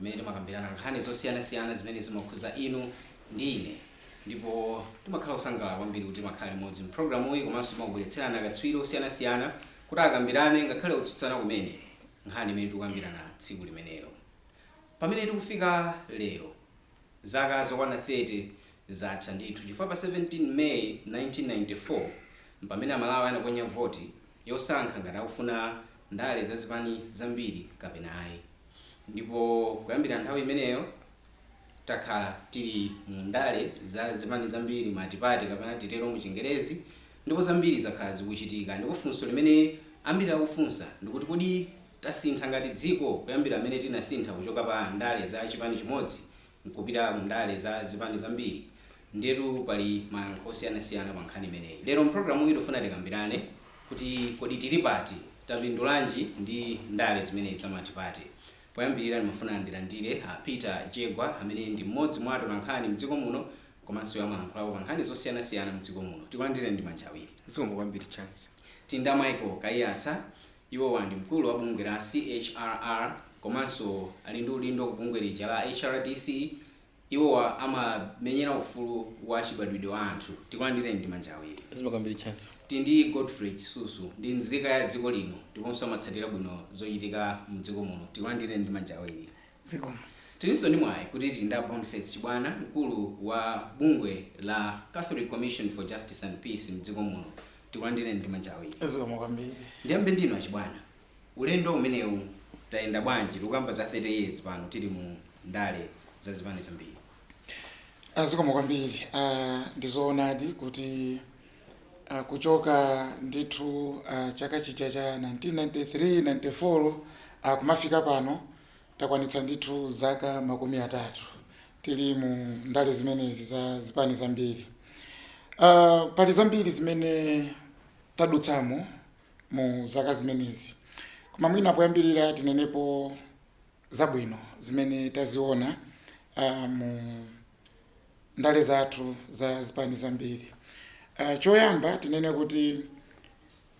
imene timakambirana nkhani zosiyanasiyana zimene zimakhudza inu ndi ine ndipo timakhala osangalala kwambiri kuti timakhala limodzi mpulogalamuyi komanso timakubweretserani akatswiri osiyanasiyana kuti akambirane ngakhale kutsutsana kumene nkhani imene tikukambirana tsiku limenelo pamene tikufika lero zaka zokwana 30 zatha ndithu chifukwa pa 17 may 1994 mpamene amalawi anaponya voti yosankha ngati akufuna ndale za zipani zambiri kapena ayi ndipo kuyambira nthawi imeneyo takhala tili mu ndale za zipani zambiri matipate kapena titero mu chingerezi ndipo zambiri zakhala zikuchitika ndipo funso limene ambiri akufunsa ndikuti kodi tasintha ngati dziko kuyambira pamene tinasintha kuchoka pa ndale za chipani chimodzi nkupita mu ndale za zipani zambiri. Ndiyetu pali mayankho osiyanasiyana pa nkhani imeneyi. Lero m'programuyi tikufuna tikambirane kuti kodi tili pati? Tapindulanji ndi ndale zimenezi za matipate? Poyambirira ndimafuna ndilandire a Peter Jegwa amene ndi mmodzi mwa atolankhani mdziko muno komanso amalankhulapo pa nkhani zosiyanasiyana mdziko muno. Tikulandireni ndi manja awiri. Zikomo kwambiri Chancy. Tili ndi a Michael Kaiyatsa Iwowa ndi mkulu wa bungwe la CHRR komanso ali ndi udindo ku bungwe lija la HRDC. Iwowa amamenyera ufulu wa chibadwidwe wa anthu. Tikulandireni ndi manja awiri. Zikomo kwambiri Chancy. Tili ndi Godfrey Chisusu. Ndi nzika ya dziko lino ndiponso amatsatira bwino zochitika m'dziko muno. Tikulandireni ndi manja awiri. Zikomo. Tilinso ndi mwayi kuti tili ndi a Boniface Chibwana mkulu wa bungwe la Catholic Commission for Justice and Peace mdziko muno. Tikulandireni ndi manja awiri. Zikomo kwambiri. Ndiyambe ndinu a Chibwana, ulendo umenewu tayenda bwanji tikukamba za 30 years pano tili mu ndale za zipani zambiri? Zikomo kwambiri. Ndi zoonadi kuti. ah kuchoka ndithu ah, chaka chija cha 1993 94 ah, kumafika pano takwanitsa ndithu zaka makumi atatu tili mu ndale zimenezi za zipani zambiri Ah, pali zambiri zimene tadutsamo mu zaka zimenezi koma mwina poyambirira tinenepo zabwino zimene taziona uh, mu ndale zathu za zipani zambiri. Uh, choyamba tinene kuti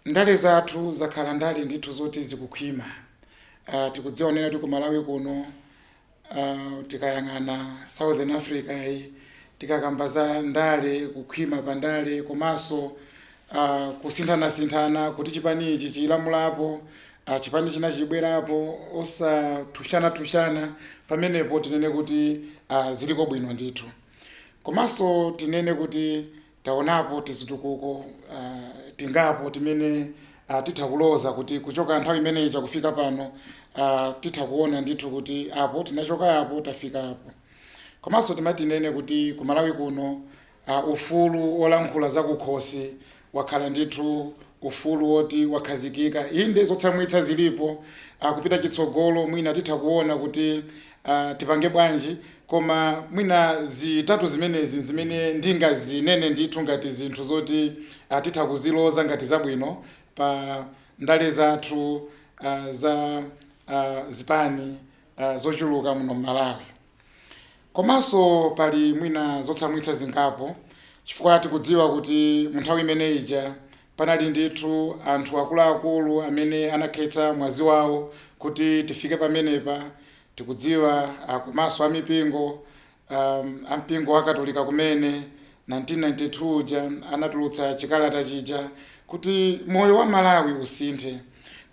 ndale zathu zakhala ndale ndithu zoti zikukhwima. Uh, tikudziwa kunena kuti ku Malawi kuno uh, tikayang'ana Southern Africa yi tikakamba za ndale kukhwima pa ndale komanso uh, kusinthanasinthana kuti chipani ichi chilamulapo a chipani china chibwerapo osathushanathushana pamenepo tinene kuti a ziliko bwino ndithu komanso tinene kuti taonapo tizitukuko a, tingapo timene a, titha kuloza kuti kuchoka nthawi imene ija kufika pano a, titha kuona ndithu kuti apo tinachoka apo tafika apo komanso timatinene kuti ku malawi kuno a. Ufulu wolankhula zakukhosi wakhala ndithu ufulu woti wakhazikika. Inde, zotsamwitsa zilipo. a Kupita chitsogolo, mwina titha kuona kuti a tipange bwanji, koma mwina zitatu zimenezi n'zimene ndingazinene ndithu ngati zinthu zoti a titha kuziloza ngati zabwino pa ndale zathu a za a zipani a zochuluka muno m'Malawi. Komanso pali mwina zotsamwitsa zingapo chifukwa tikudziwa kuti mu nthawi imene ija panali ndithu anthu akuluakulu amene anakhetsa mwazi wawo kuti tifike pamenepa. Tikudziwa uh, komanso amipingo um, ampingo wa Katolika kumene 1992 uja anatulutsa chikalata chija kuti moyo wa Malawi usinthe.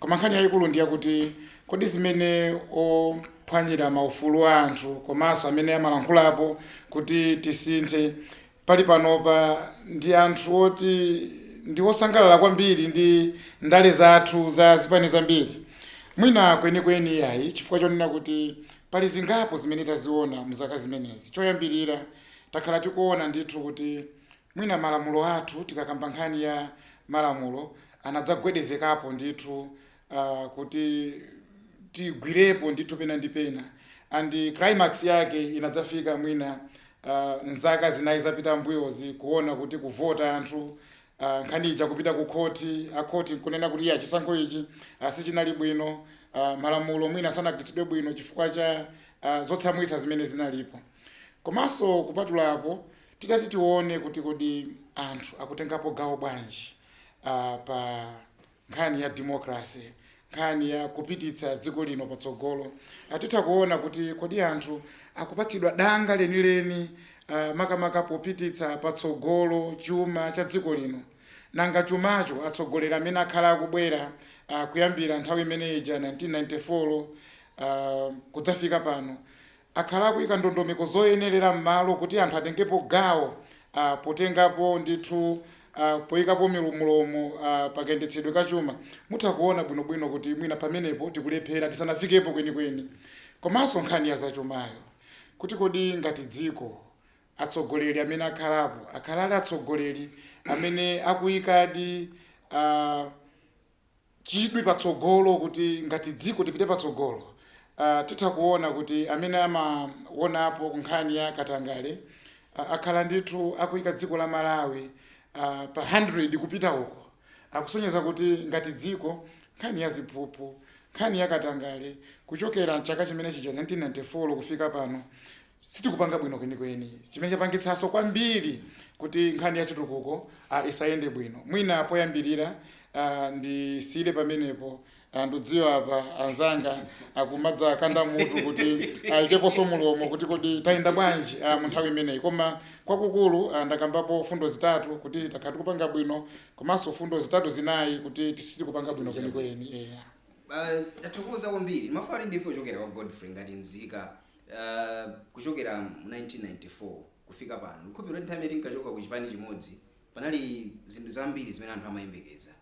Koma nkhani yaikulu ndi yakuti, Kodi zimene ophwanyira maufulu a anthu komanso amene amalankhulapo kuti tisinthe pali panopa ndi anthu oti ndi osangalala kwambiri ndi ndale zathu za zipani zambiri? Mwina kwenikweni iyayi, chifukwa chonena kuti pali zingapo zimene taziona m'zaka zimenezi. Choyambirira, takhala tikuona ndithu kuti Mwina malamulo athu, tikakamba nkhani ya malamulo, anadzagwedezekapo ndithu kuti tigwirepo ndithu pena ndi pena and climax yake inadzafika mwina m'zaka zinayi zapita m'mbuyozi kuona kuti kuvota anthu, nkhani ija kupita kukhoti, akhoti n'kunena kuti iyayi chisankho ichi sichinali bwino, malamulo mwina sanagwiritsidwe bwino chifukwa cha zotsamwitsa zimene zinalipo. Komanso kupatula apo, Titati tione kuti kodi anthu akutengapo gawo bwanji pa nkhani ya democracy, nkhani ya kupititsa dziko lino patsogolo, titha kuona kuti kodi anthu akupatsidwa danga lenileni makamaka popititsa patsogolo chuma cha dziko lino. Nanga chumacho atsogoleri amene akhala akubwera kuyambira nthawi imene ija 1994 kudzafika pano, akhala akuika ndondomeko zoyenelera m'malo kuti anthu atengepo gawo potengapo ndithu poikapo mlomo pakayendetsedwe ka chuma mutha kuona bwinobwino kuti mwina pamenepo tikulephera tisanafikepo kwenikweni. Komanso nkhani ya zachumayo kuti kodi ngati dziko atsogoleri amene akhalapo akhala ali atsogoleri amene akuikadi. chidwi patsogolo kuti ngati dziko tipite patsogolo titha kuona kuti amene amaonapo nkhani ya katangale akhala ndithu akuika dziko la Malawi pa 100 kupita uko akusonyeza kuti ngati dziko nkhani ya ziphuphu nkhani ya katangale kuchokera m'chaka chimene chija 1994 kufika pano sitikupanga bwino kwenikweni chimene chapangitsanso kwambiri kuti nkhani ya chitukuko uh, isayende bwino mwina poyambirira uh, ndisiyire pamenepo uh, ndudziwa pa anzanga akumadzakanda mutu kuti ndiikeponso mulomo kuti kodi tayenda bwanji uh, mu nthawi imeneyi koma kwakukulu uh, ndakambapo fundo zitatu kuti tikupanga bwino komanso fundo zitatu zinayi kuti sitikupanga bwino kwenikweni yeah. Uh, tathokoza kwambiri ma- farindifo kuchokera kwa godfrey ngati nzika Kuchokera mu 1994 kufika pano, ndikukhulupilira kuti nthawi imene tinkachoka ku chipani chimodzi panali zinthu zambiri zimene anthu amayembekeza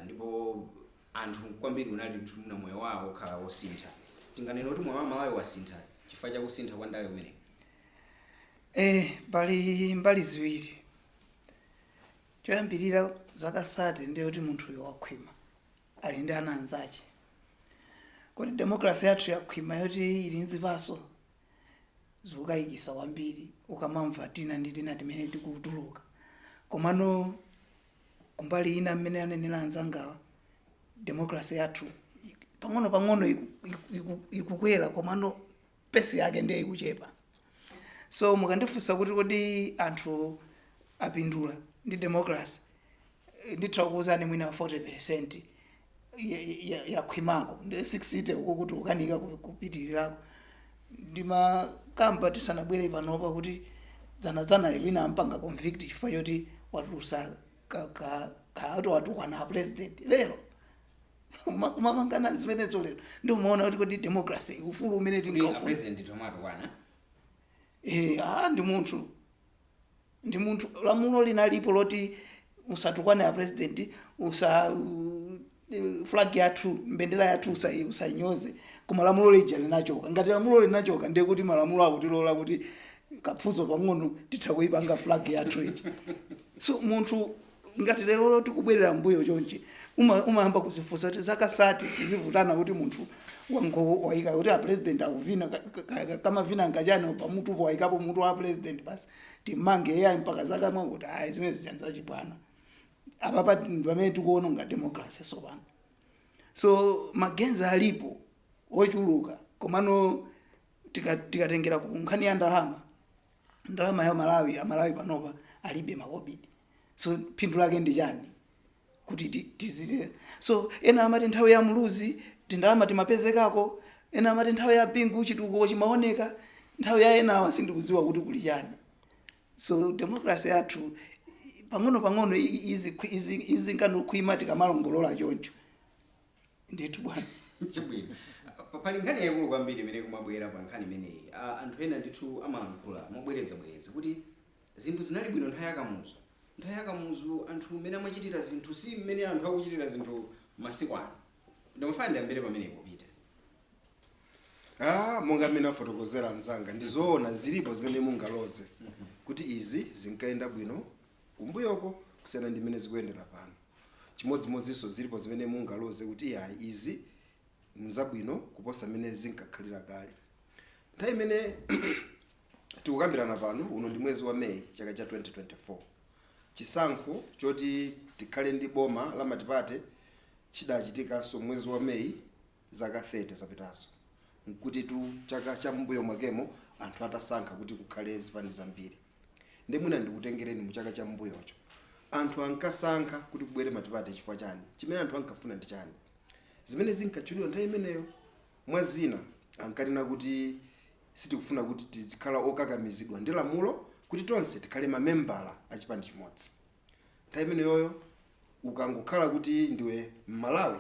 ndipo anthu ambiri kunali kuti mwina moyo wawo ukhala wosintha. Tinganene kuti moyo wa Amalawi wasintha chifukwa cha kusintha kwa ndale kumeneku? Eeh, pali mbali ziwiri. Choyambirira zaka sate ndiye kuti munthuyo wakhwima. ali ndi ana anzache. Kodi democracy yathu yakhwima yoti ili ndi zipaso? Zikukaikisa kwambiri ukamamva tina ndi tina timene tikutuluka. Komano kumbali ina mmene anenera anzangawa, democracy yathu pang'ono pang'ono iku- iku- iku- ikukwera komano pace yake ndiye ikuchepa so mukandifunsa kuti kodi anthu apindula ndi democracy eh, nditha kukuuzani mwina 40 percent yakhwimako ndi 60 uko tikukanika ku- kupitirirako ndimakamba tisanabwere panopa kuti dzanadzana lomweli wina ampanga convict chifukwa choti watulusa ka- ka- ka- ati watukwana a president lero Kuma- kumamangana zimenezo lero ndiye umaona kuti kodi democracy ufulu umene Kuti tingafuna apresident tizimawatukwana Eh, ah, ndi munthu ndi munthu lamulo linalipo loti usatukwane a president usa u- eh, flag yathu mbendera yathu usa- usainyoze koma lamulo lija linachoka ngati lamulo linachoka ndiye kuti malamulo akutilola kuti kaphuzo pang'ono titha kuipanga flag yathu ija so munthu Ngati lerolo tikubwerera m'mbuyo chonchi, uma- umayamba kuzifunsa kuti zaka sate tizivutana kuti munthu wango- waika kuti a president akuvina ka- ka- ka- kamavina ngati chani pamutupo waikapo mutu wa president basi timmange iyeyo mpaka zaka mwakuti ayi zimene zija nzachibwana apapa ndi pamene tikuonongera democracy sopano so ma gains alipo ochuluka komano tika- tikatengera ku nkhani ya ndalama ndalama ya malawi amalawi panopa alibe makobidi so phindu lake ndi chani kuti ti- tizire so ena amati nthawi ya muluzi tindalama timapezekako ena amati nthawi ya bingu chitukuko chimaoneka nthawi ya enawa sindikudziwa kuti kuli chani so democracy yathu pang'ono pang'ono i- i- izi- izi- izinka nikukhwima tikamalongolola choncho ndithu bwana chabwinotu Pa- pali nkhani yaikulu kwambiri imene ikumabwera pa nkhani imeneyi A- anthu ena ndithu amalankhula mobwerezabwereza kuti zinthu zinali bwino nthawi yakamuzu nthawi yakamuzu anthu mmene amachitira zinthu si mmene anthu akuchitira zinthu masiku ano ndimafuna ndiyambire pamenepo pita ah monga mmene afotokozera anzanga ndizoona zilipo zimene mungaloze kuti izi zinkayenda bwino kumbuyoko kusiyana ndi mmene zikuyendera pano. Chimodzimodzinso zilipo zimene mungaloze kuti iyayi izi n'zabwino kuposa mmene zinkakhalira kale. Nthawi imene tikukambirana pano, uno ndi mwezi wa May chaka cha 2024. Chisankho choti tikhale ndi boma la matipate chidachitikanso mwezi wa May zaka 30 zapitazo. N'kuti chaka cha m'mbuyo mwakemo anthu atasankha kuti kukhale zipani zambiri. nde mwina ndikutengereni mu chaka cha mbuyocho anthu ankasankha kuti kubwere matipate chifukwa chani chimene anthu ankafuna ndi chani zimene zinkatchulidwa nthawi imeneyo mwa zina ankanena kuti sitikufuna kuti tizikhala okakamizidwa ndi lamulo kuti tonse tikhale mamembala a chipani chimodzi nthawi imeneyoyo ukangokhala kuti ndiwe mmalawi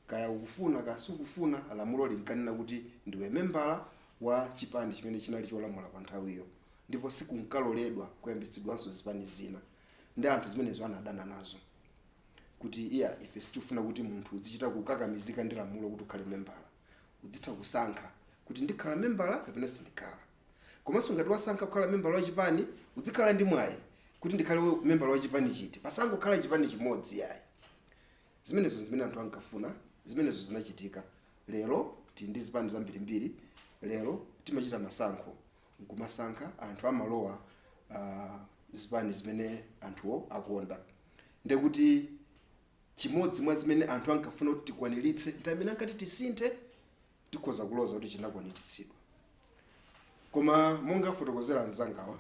kaya ukufuna kaya sukufuna lamulo linkanena kuti ndiwe membala wa chipani chimene chinali cholamula pa nthawiyo ndipo sikunkaloledwa kuyambitsidwanso zipani zina nde anthu zimenezo anadana nazo kuti iyayi ife sitifuna kuti munthu udzichita kukakamizika ndi lamulo kuti ukhale membala udzitha kusankha kuti ndikhala membala kapena sindikhala Komanso ngati wasankha kukhala membala wa chipani, udzikhala ndi mwayi kuti ndikhale membala wa chipani chiti. Pasangokhala chipani chimodzi iyayi. Zimenezo n'zimene anthu ankafuna, zimenezo zinachitika. Lero tili ndi zipani zambirimbiri, lero timachita masankho n'kumasankha, anthu amalowa uh, zipani zimene anthuwo akonda. Ndiye kuti chimodzi mwa zimene anthu ankafuna kuti tikwaniritse nthawi imene ankati tisinthe tikhoza kuloza kuti chinakwaniritsidwa koma monga afotokozera anzangawa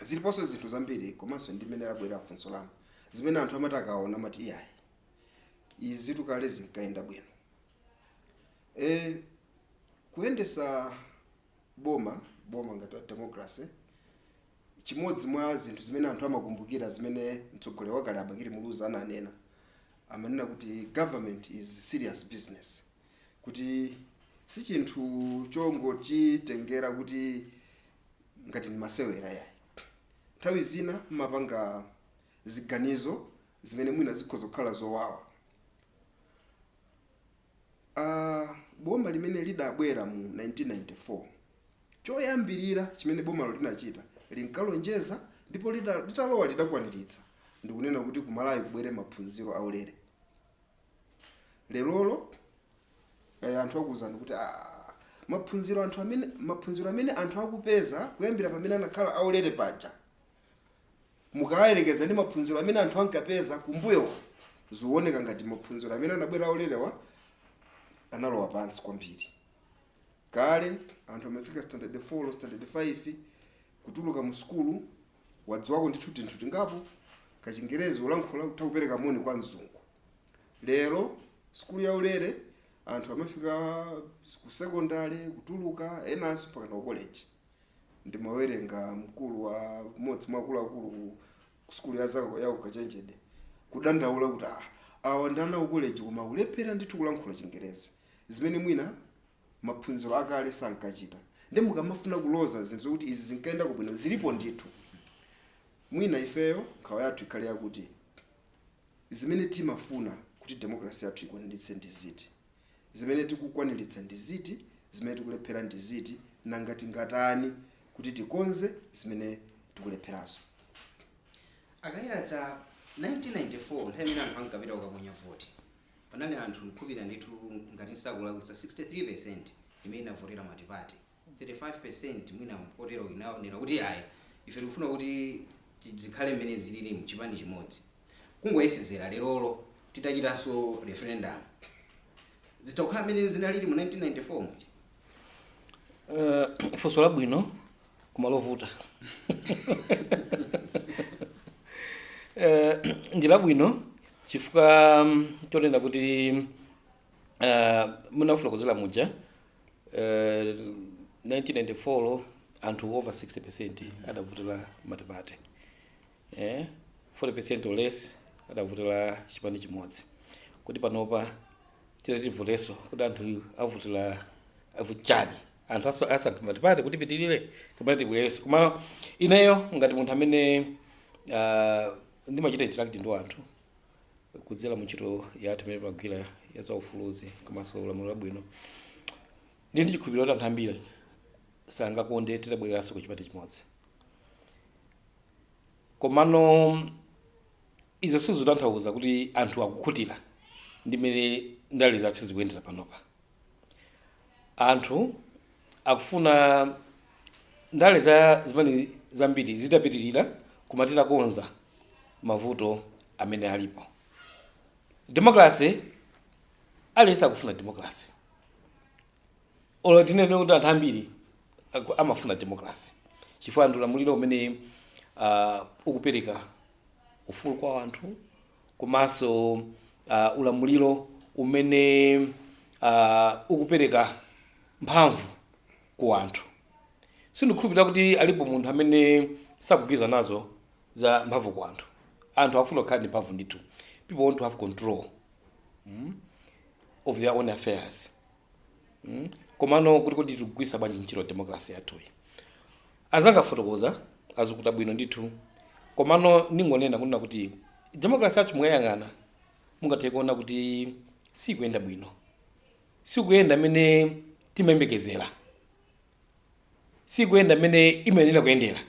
ziliponso zinthu zambiri komanso ndi mmene labwerera funso lanu zimene anthu amati akaona amati iyayi izitu kale zinkayenda bwino e, kuyendetsa boma boma ngati a democracy chimodzi mwa zinthu zimene anthu amakumbukira zimene mtsogoleri wakale a Bakili Muluzi ananena amanena kuti government is serious business kuti si chinthu chongochitengera kuti ngati ndi masewera yayi nthawi zina mumapanga ziganizo zimene mwina zikhoza kukhala zowawa Boma limene lidabwera mu 1994, choyambirira chimene bomalo linachita, linkalonjeza ndipo litalowa lidakwaniritsa, ndi kunena kuti ku Malawi kubwere maphunziro aulere. Lerolo anthu akuuzani kuti aa, maphunziro amene anthu akupeza kuyambira pamene anakhala aulere paja mukayerekeza ndi maphunziro amene anthu ankapeza kumbuyowa zikuoneka ngati maphunziro amene anabwera aulerewa analowa pansi kwambiri kale anthu amafika standard 4 standard 5 kutuluka mu sukulu wadziwako ndithu tinthu tingapo kachingerezi ulankhula utha kupereka moni kwa mzungu lero sukulu yaulere anthu amafika ku secondary kutuluka enanso mpakana ku college ndimawerenga mkulu wa mmodzi mwa akuluakulu ku- ku sukulu ya za- ya ukachenjede kudandaula kuti ah, awa ndi ana a ku koleji koma ulephera ndithu kulankhula chingerezi zimene mwina maphunziro akale sankachita ndiye mukamafuna kuloza zinthu zokuti izi zinkayendako bwino zilipo ndithu mwina ifeyo nkhawa yathu ikhale yakuti zimene timafuna kuti demokrasi yathu ikwaniritse ndi ziti Zimene tikukwaniritsa ndi ziti? Zimene tikulephera ndi ziti? Nanga tingatani kuti tikonze zimene tikulepherazo? A Kaiyatsa, 1994 nthawi imene anthu ankapita kukaponya voti, panali anthu nkhulupirira ndithu ngati sindikulakwitsa 63% imene inavotera multiparty. 35% mwina mpoterowo inanena kuti ayi ife tikufuna kuti zikhale mmene zililimu chipani chimodzi kungoyesezera lerolo titachitanso referendum zitha kukhala mmene zinalili mu 1994 muja uh, funso labwino koma lovuta uh, ndi labwino chifukwa um, chonena kuti uh, mmene mwafotokozera muja uh, 1994 anthu over 60% adavotera matipate eh, 40% or less adavotera chipani chimodzi kuti panopa titativoteso kuti anthu avotera avotera chani anthu aso- asankha matipate kuti ipitirire kapena tibwereso koma ineyo ngati munthu amene uh, ndimachita interact ndi anthu kudzera mu ntchito yathu imene timagwira ya zaufuluzi komanso ulamuliro wabwino ndi ndi chikhulupiriro kuti anthu ambiri sangakonde titabwereranso ku chipani chimodzi komano izo sizitanthauza kuti anthu akukhutira ndi mmene ndale zathu zikuyendera panopa Anthu akufuna ndale za zipani zambiri zitapitirira koma titakonza mavuto amene alipo. Democracy, aliyense akufuna democracy. Olo tinene kuti anthu ambiri aku- amafuna democracy chifukwa ndi ulamuliro umene uh, ukupereka ufulu kwa anthu komanso uh, ulamuliro umene uh, ukupereka mphamvu ku anthu sindikhulupirira kuti alipo munthu amene sakugwirizana nazo za mphamvu ku anthu anthu akufuna kukhala ndi mphamvu ndithu people want to have control mm, of their own affairs mm? komano kuti kodi tikugwiritsa bwanji ntchito democracy yathuyi anzanga afotokoza asukuta bwino ndithu komano ndingonena kunena kuti democracy yathu mukayiyang'ana mungathe kuona kuti sikuyenda bwino sikuyenda mmene timayembekezera sikuyenda mmene imayenera kuyendera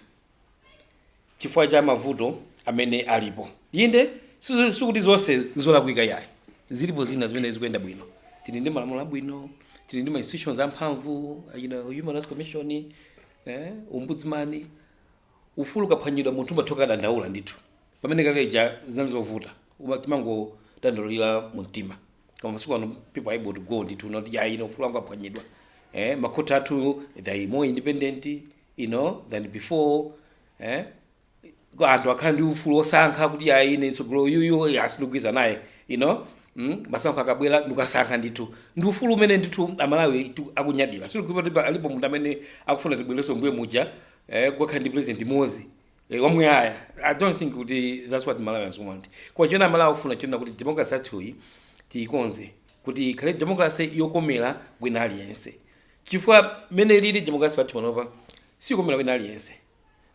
chifukwa cha mavuto amene alipo inde si- sikuti zonse zolakwika yayi zilipo zina zimene zikuyenda bwino tili ndi malamulo abwino tili ndi ma institutions amphamvu you know, human rights commission eh, ombudsman Ufulu ukaphwanyidwa munthu umatha kukadandaula ndithu. Pamene kale lija zinali zovuta, uma timangodandaulira mu mtima. Koma masiku ano people are able to go ndithu noti yayi inu ufulu wanga waphwanyidwa. Eh, makhoti athu they are more independent, you know, than before. Eh, kwa anthu akhala ndi ufulu wosankha kuti yayi ine mtsogoleri uyuyu yayi sindikugwirizana naye, you know. Mm, masankho akabwera ndikukasankha ndithu. Ndi ufulu umene ndithu Amalawi tu- akunyadira. Sikuti alipo munthu amene akufuna tibwererenso mbuye muja eh, kukakhala ndi president mmodzi eh, wamuyaya i don't think kuti that's what malawians want koma chimene amalawi akufuna n'chonena kuti democracy yathuyi tiyikonze kuti ikhale democracy yokomera wina aliyense chifukwa mmene ilili democracy pathu panopa siyokomera wina aliyense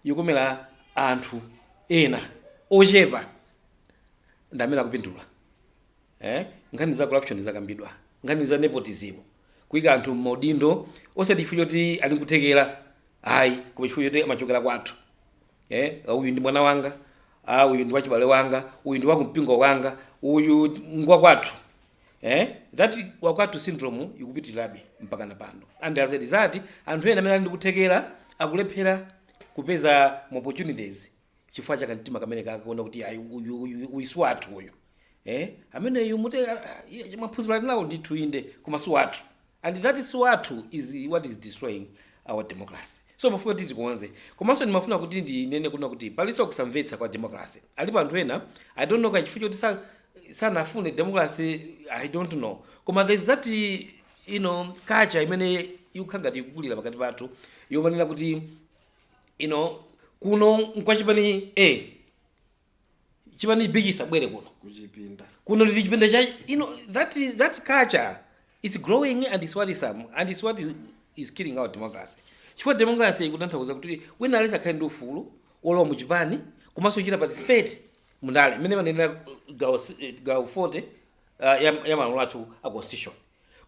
yokomera anthu ena ochepa ndi amene akupindula eh? nkhani za corruption zakambidwa nkhani za nepotism kuika anthu mmaudindo osati chifukwa choti ali nkuthekera ayi koma chifukwa choti amachokera kwathu eh, ah, uyu ndi mwana wanga ah, uyu ndi wachibale wanga uyu ndi wakumpingo wanga uyu ngwa kwathu eh, that wakwathu syndrome ikupitirirabe mpaka na pano and as a result anthu ena amene ali ndi kuthekera akulephera kupeza ma opportunities chifukwa cha kamtima kameneka kakuona kuti ayi uyu uyu uyu si wathu uyu eh ameneyu mute ah, ah, iye- maphunziro ali nawo ndithu inde koma si wathu and that si wathu is what is destroying our democracy so timafuna kuti tikonze komanso ndimafuna kuti ndinene kunena kuti palinso kusamvetsa kwa democracy alipo anthu ena i don't know kaya chifukwa choti sa- sanafune democracy i don't know koma there's that you know culture imene ikukhala ngati ikukulira pakati pathu yomanena kuti you know kuno nkwa chipani a chipani b chisabwere kuno kuchipinda kuno ndi chipinda cha you know that is, that culture is growing and is what is um, and is what is, is killing our democracy chifukwa democracy ikutanthauza kuti wina aliyense akhale ndi ufulu wolowa mu chipani komanso kuchita participate mundale mmene imanenera gawo s- eh, gawo 40 uh, ya, ya malamulo athu a constitution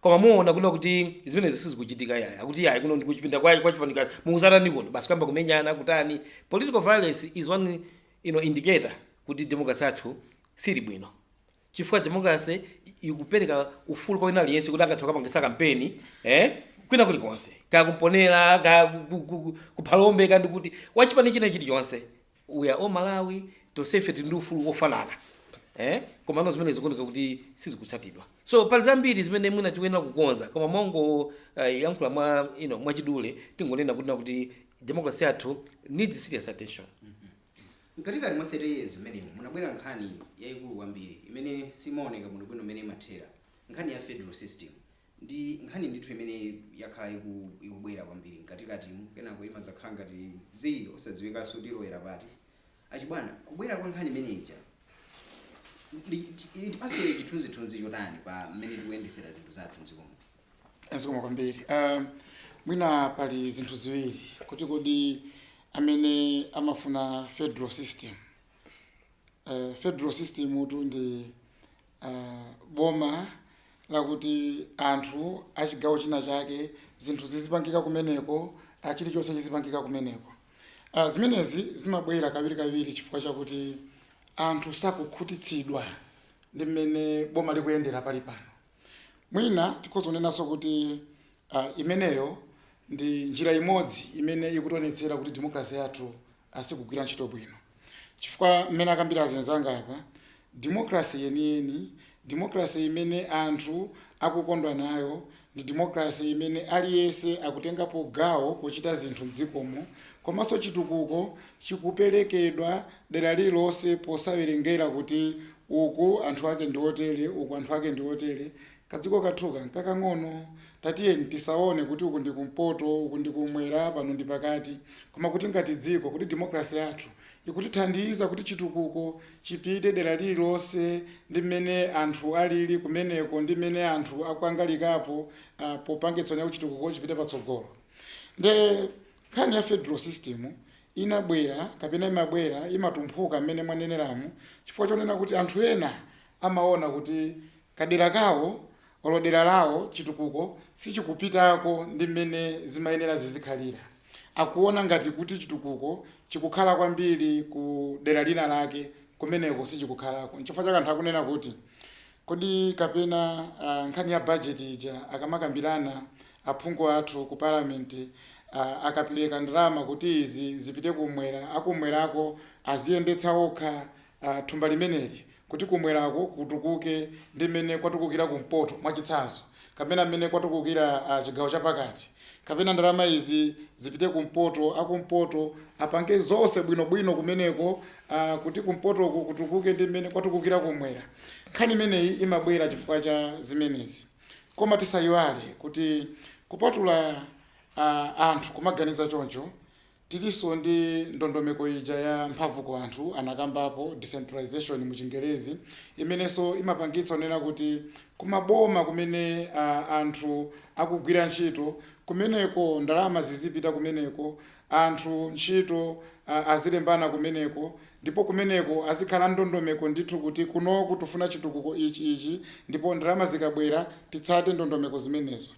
koma muona kunena kuti zimenezi sizikuchitika yaya akuti yaya kuno ndikuchipinda kwa kwa chipani chaka mukudzatani kuno basi kuyamba kumenyana kutani political violence is one you know, indicator kuti democracy yathu siili bwino chifukwa democracy ikupereka ufulu kwa wina aliyense kuti angathe kukapangisa kampeni eh kwina kulikonse kaya ku Mponela kaya ku- ku- ku- ku Phalombe kaya ndi kuti wachipani china chilichonse we are all malawi tonsefe tili ndi ufulu wofanana eh? komano zimene zikuoneka kuti sizikutsatidwa so pali zambiri zimene mwina tikuyenera kukonza koma mongo uh, yankhula mwa you know, mwachidule tingonena kunena kuti democracy yathu needs serious attention mkatikati mwa 30 years imeneyo munabwera nkhani yayikulu kwambiri imene siimaoneka bwinobwino imene imathera nkhani ya federal system Ndi nkhani ndithu imene yakhala iku ikubwera kwambiri mkatikatimu kenako imadzakhala ngati zii osadziwikanso kuti ilowera pati. A Chibwana, kubwera kwa nkhani imene ija ndi chi- itipatse chithunzithunzi chotani pa mmene tikuyendetsera zinthu zathu mdziko muno? zikomo kwambiri um, mwina pali zinthu ziwiri kuti kodi amene amafuna federal system uh, federal system utu ndi a boma lakuti anthu a chigawo china chake zinthu zizipangika kumeneko, a chirichonse chizipangika kumeneko. A zimenezi zimabwera kawirikawiri chifukwa chakuti anthu sakukhutitsidwa ndi mmene boma likuyendera palipano. Mwina tikhoza kunenanso kuti a imeneyo ndi njira imodzi imene ikutionetsera kuti democracy yathu a siikugwira ntchito bwino chifukwa mmene akambira azenzanga apa democracy yeniyeni democracy imene anthu akukondwa nayo ndi democracy imene aliyense akutengapo gawo pochita zinthu mdziko mo komanso chitukuko chikuperekedwa dera lililonse posawerengera kuti uku anthu ake ndi otere uku anthu ake ndi otere Kadziko kathuka nkakang'ono, tatiyeni tisaone kuti uku ndi kumpoto, uku ndi kumwera, pano ndi pakati, koma kuti ngati dziko, kodi democracy yathu ikutithandiza kuti chitukuko chipite dera lililonse ndi mmene anthu alili kumeneko ndi mmene anthu akukangalikirapo popangitsa kuti chitukuko chipite patsogolo. Nde nkhani ya federal system inabwera kapena imabwera, imatumphuka mmene mwaneneramu chifukwa chonena kuti anthu ena amaona kuti kadera kawo olo dera lawo chitukuko sichikupitako ndi mmene zimayenera zizikhalira. Akuona ngati kuti chitukuko chikukhala kwambiri ku dera lina lake kumeneko sichikukhalako. N'chifukwa chake anthu akunena kuti, Kodi kapena aah nkhani ya budget ija akamakambirana aphungu athu ku parliament aah akapereka ndalama kuti izi zipite kumwera, akumwerako aziyendetsa okha? a thumba limeneli kuti kumwerako kutukuke ndi mmene kwatukukira kumpoto, mwachitsanzo, kapena mmene kwatukukira a chigawo chapakati, kapena ndalama izi zipite kumpoto, akumpoto apange zonse bwino bwino kumeneko a kuti kumpotoko kutukuke ndi mmene kwatukukira kumwera. Nkhani imeneyi imabwera chifukwa cha zimenezi. Koma tisayiwale kuti kupatula a anthu kumaganiza choncho, Tiliso ndi ndondomeko ija ya mphamvu kwa anthu anakambapo, decentralization mu chingerezi, imeneso imapangitsa kunena kuti kumaboma kumene a anthu akugwira ntchito kumeneko ndalama zizipita kumeneko, anthu ntchito a azilembana kumeneko ndipo kumeneko azikhala ndondomeko ndithu kuti kunoku tufuna chitukuko ichi ichi ndipo ndalama zikabwera titsate ndondomeko zimenezo.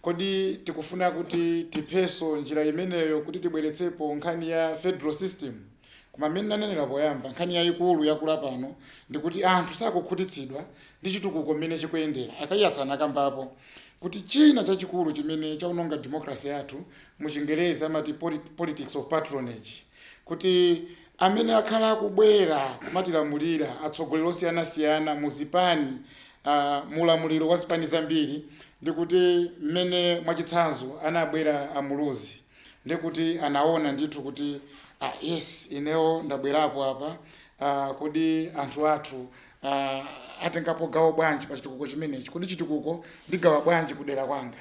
Kodi tikufuna kuti tiphenso njira imeneyo kuti tibweretsepo nkhani ya federal system? Koma mmene nanenera poyamba, nkhani yayikulu yakula pano ndikuti anthu sakukhutitsidwa ndi chitukuko mmene chikuyendera. A Kaiyatsa anakambapo kuti china chachikulu chimene chawononga democracy yathu mu chingerezi amati politics of patronage. kuti amene akhala akubwera kumatilamulira, atsogoleri osiyanasiyana mu zipani, mu ulamuliro wa zipani zambiri, ndi kuti mmene mwachitsanzo anabwera a Muluzi, ndi kuti anaona ndithu kuti ah yes, ineo ndabwerapo apa, kodi anthu athu atengapo gawo bwanji pa chitukuko chimenechi, kodi chitukuko ndigawa bwanji kudera kwanga.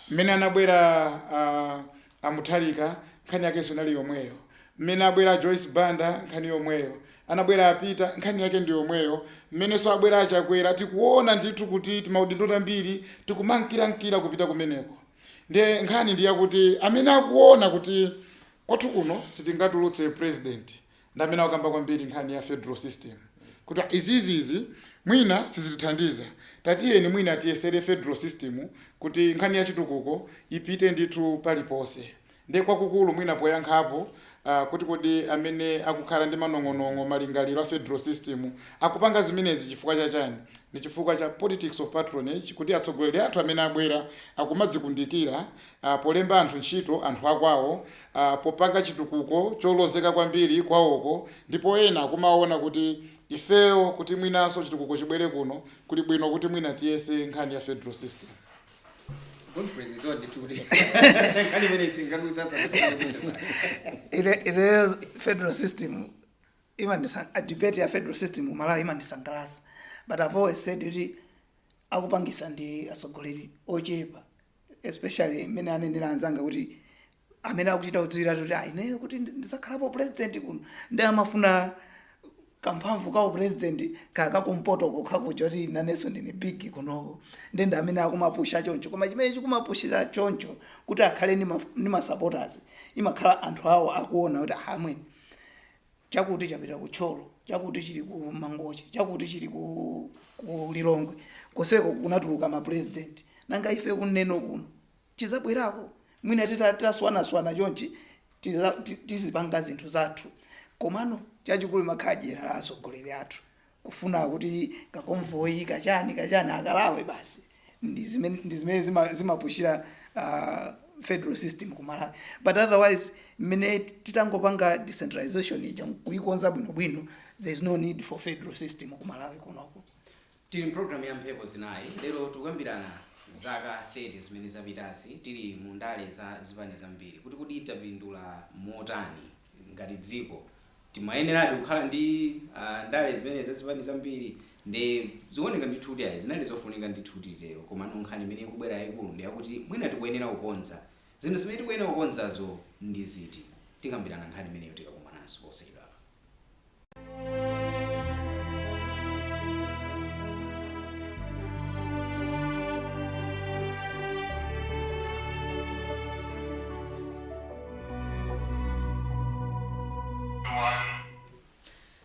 Mmene anabwera a A Mutharika nkhani yakenso inali yomweyo, mmene abwera a Joyce Banda nkhani yomweyo, anabwera a Peter nkhani yake ndi yomweyo, mmenenso abwera a Chakwera tikuona ndithu kuti timaudindo tambiri tikumamkirankira kupita kumeneko. Nde nkhani ndi yakuti amene akuona kuti kwathu kuno sitingatulutse president ndi amene akukamba kwambiri nkhani ya federal system kuti izizi izi mwina sizitithandiza tatiyeni mwina tiyesere federal system kuti nkhani ya chitukuko ipite ndithu paliponse ndi kwakukulu mwina poyankhapo uh, kuti kodi amene akukhala ndi manong'onong'o malingaliro a federal system akupanga zimenezi chifukwa cha chani ndi chifukwa cha politics of patronage kuti atsogoleri athu amene abwera akumadzikundikira a polemba anthu ntchito anthu a kwawo, a popanga chitukuko cholozeka kwambiri kwawoko ndipo ena akumaona kuti ifeyo kuti mwinanso chitukuko chibwere kuno kuli bwino kuti mwina tiyese nkhani ya federal system. Ine- ineyo federal system imandisa a debate ya federal system mu malawi imandisangalasa but i've always said kuti akupangisa ndi atsogoleri ochepa especially mmene anenera anzanga kuti amene akuchita kudziwiratu kuti "Ah, ineyo kuti ndi- ndisakhalapo president kuno ndi amafuna kamphamvu ka upresident kakakumpoto kokha kuja kuti nanenso ndine big kunoko nde ndi amene akumapusha choncho koma chimene chikumapushira choncho kuti akhale ndi ma- ndi masupporters imakhala anthu awo akuona kuti amweni chakuti chapita ku Thyolo chakuti chili ku mangochi chakuti chili ku, ku lilongwe koseko kunatuluka mapurezidenti nanga ife kuneno kuno chizabwerako mwina tita- titaswanaswana chonchi tiza- ti- tizipanga zinthu zathu komano chachikulu nkhadyera la atsogoleri athu kufuna kuti ka convoy kachani kachani akalawe basi ndi zimene zima- zimapushira uh, federal system ku malawi but otherwise mmene titangopanga decentralization ija kuikonza bwinobwino there is no need for federal system ku malawi kunoko tili mpulogalamu ya mphepo zinayi lero tikukambirana zaka 30 zimene zapitazi tili mu ndale za zipani zambiri kuti kodi tapindula motani ngati dziko Timayeneradi kukhala ndi a ndale zimenezi za zipani zambiri nde zikuoneka ndithu kuti ayi zinali zofunika ndithu kuti titero komano nkhani imene ikubwera yaikulu ndi yakuti mwina tikuyenera kukonza zinthu zimene tikuyenera kukonzazo ndi ziti? Tikambirana nkhani imeneyo tikakumananso posachedwapa.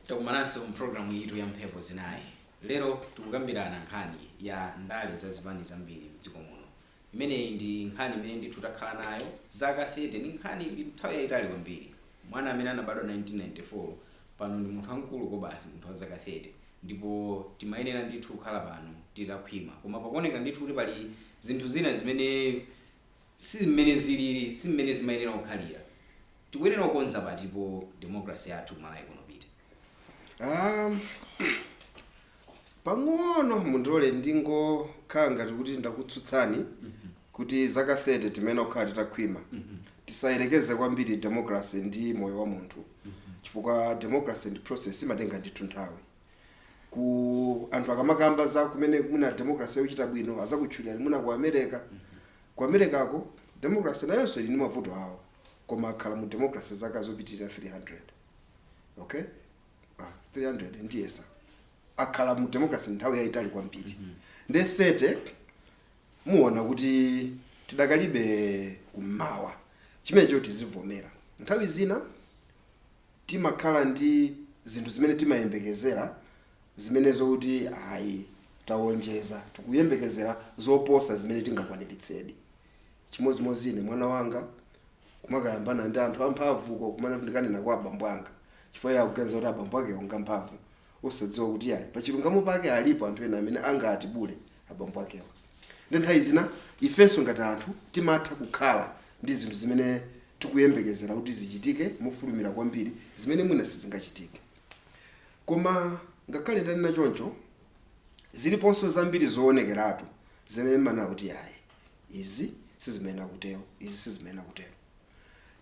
takumananso mpulogalamu yathu ya mphepo zinayi lero tikukambirana nkhani ya ndale za zipani zambiri mdziko muno imeneyi ndi nkhani imene ndithu takhala nayo zaka 30 ndi nkhani ndi nthawi yayitali kwambiri mwana amene anabadwa 1994 pano ndi munthu wamkulu kobasi munthu wa zaka 30 ndipo timayenera ndithu kukhala pano titakhwima koma pakuoneka ndithu kuti pali zinthu zina zimene Si mmene zilili, si mmene zimayenera kukhalira. Tikuyenera kukonza patipo democracy yathu ku Malawi kuno, Peter? Um, pang'ono mundilole ndingokhala ngati kuti ndakutsutsani kuti zaka 30 timayenera kukhala titakhwima tisayerekeze kwambiri democracy ndi moyo wa munthu chifukwa democracy ndi process imatenga ndithu nthawi ku anthu akamakamba za kumene mwina democracy yochita bwino azakutchulira mwina ku america ku americako democracy nayonso ili ndi mavuto awo koma akhala mu democracy zaka zopitirira 300 okay ah, 300 ndiyesa akhala mu democracy nthawi yayitali kwambiri nde 30 muona kuti tidakali kummawa chimenecho tizivomera nthawi zina timakhala ndi zinthu zimene timayembekezera zimenezo kuti ayi tawonjeza, tikuyembekezera zoposa zimene tingakwaniritsedi. Chimodzimodzi ine, mwana wanga kumakayambana ndi anthu amphamvu uko, kumanena kuti ndikanena kwa abambo anga chifukwa iye akuganiza kuti abambo akewo ngamphamvu, osadziwa kuti iyayi pachilungamo pake alipo anthu ena amene angatibule abambo akewa. Nde nthawi zina ifenso ngati anthu timatha kukhala ndi zinthu zimene tikuyembekezera kuti zichitike mofulumira kwambiri zimene mwina sizingachitike. Koma ngakhale ndanena choncho, ziliponso zambiri zoonekeratu zimene mumanena kuti iyayi izi sizimayenera kutero, izi sizimayenera kutero.